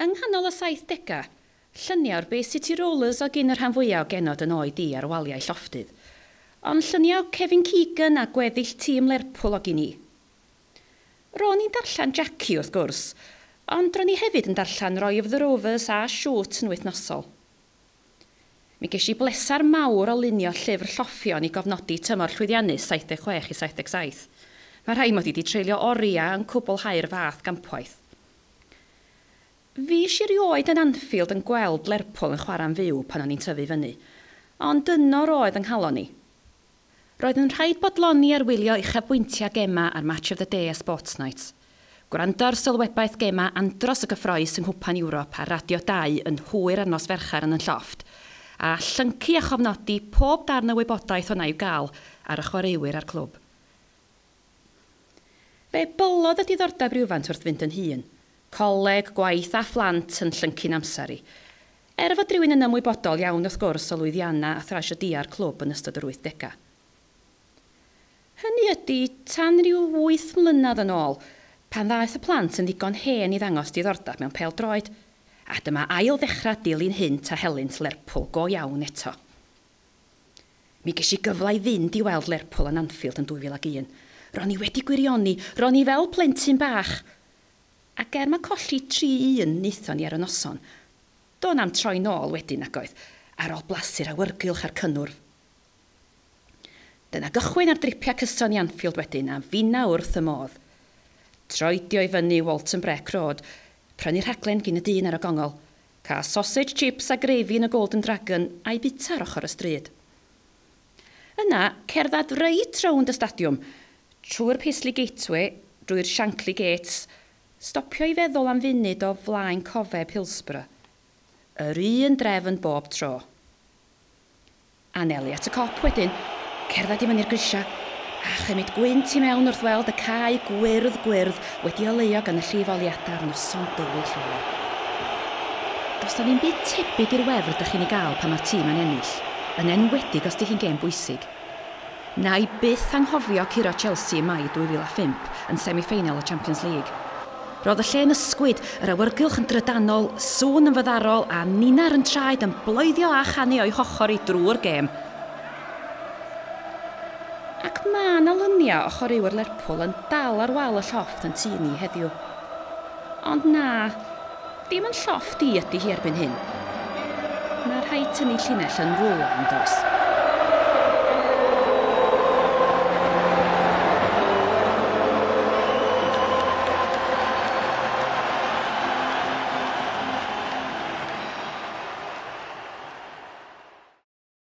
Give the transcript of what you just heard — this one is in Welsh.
Yng nghanol y saithdegau, lluniau o'r Bay City Rollers oedd gin y rhan fwyaf o genod yn oed i ar waliau llofftydd. Ond lluniau o Kevin Keegan a gweddill tîm Lerpwl oedd gin i. Ro'n i'n darllen Jackie, wrth gwrs, ond ro'n i hefyd yn darllen Roy of the Rovers a Shoot yn wythnosol. Mi gesh i bleser mawr o lunio llyfr lloffion i gofnodi tymor llwyddiannus 76 i 77. Mae rhai mod i 'di treulio oriau yn cwblhau'r fath gampwaith. Fuesh i rioed yn Anfield yn gweld Lerpwl yn chwarae'n fyw pan o'n i'n tyfu fyny, ond yno roedd yng nghalon i. Roedd yn rhaid bodloni ar wylio uchafbwyntiau gemau ar Match of the Day a Sports Night, gwrando ar sylwebaeth gemau Andros y Gyffrous yng Nghwpan Ewrop ar Radio Dau yn hwyr ar nos Fercher yn 'Yn Llofft', a llyncu a chofnodi pob darn o wybodaeth wna i'w gael ar y chwaraewyr a'r clwb. Fe bolodd y diddordeb rywfaint wrth fynd yn hŷn, Coleg, gwaith a phlant yn llyncu'n amser i. Er fod rhywun yn ymwybodol iawn wrth gwrs o lwyddiannau a thrasiedïau'r clwb yn ystod yr wythdegau. Hynny ydi, tan ryw wyth mlynedd yn ôl, pan ddaeth y plant yn ddigon hen i ddangos diddordeb mewn pêl-droed. A dyma ail ddechrau dilyn hyn ta helynt Lerpwl go iawn eto. Mi ges i gyfle i fynd i weld Lerpwl yn Anfield yn 2001. Ro'n i wedi gwirioni, ro'n i fel plentyn bach! Ac er mae colli tri un wnaethon ni ar y noson, do' na'm troi nôl wedyn nagoedd, ar ôl blasu'r awyrgylch a'r cynnwrf. Dyna gychwyn ar dripiau cyson i Anfield wedyn a finna wrth y modd. Troedio i fyny Walton Breck Road, prynu rhaglen gin y dyn ar y gongl, cael sausage chips a gravy yn y Golden Dragon a'i bita ar ochr y stryd. Yna, cerdded reit rownd y stadiwm, trwy'r Paisley Gateway, drwy'r Shankly Gates, stopio i feddwl am funud o flaen cofeb Hillsborough. Yr un drefn bob tro. Anelu at y cop wedyn, cerdded i fyny'r grisiau, a chymryd gwynt i mewn wrth weld y cae gwyrdd gwyrdd wedi oleuo gan y llif oliadau ar noson dywyll ddoe. Does 'na ddim byd tebyg i'r wefr 'da chi'n ei gael pan mae'r tîm yn ennill. yn enwedig os 'di hi'n gêm bwysig. Wna i byth anghofio curo Chelsea ym Mai 2005 yn semi-ffeinal y Champions League. Roedd y lle'n ysgwyd, yr awyrgylch yn drydanol, sŵn yn fyddarol a ninnau'r yn traed yn bloeddio a chanu o'i hochr hi drwy'r gêm. Ac ma' 'na luniau o chwaraewyr Lerpwl yn dal ar wal y llofft yn tŷ ni heddiw. Ond na. Dim ond llofft i ydy hi erbyn hyn. Mae rhaid tynnu llinell yn rwla, yn does?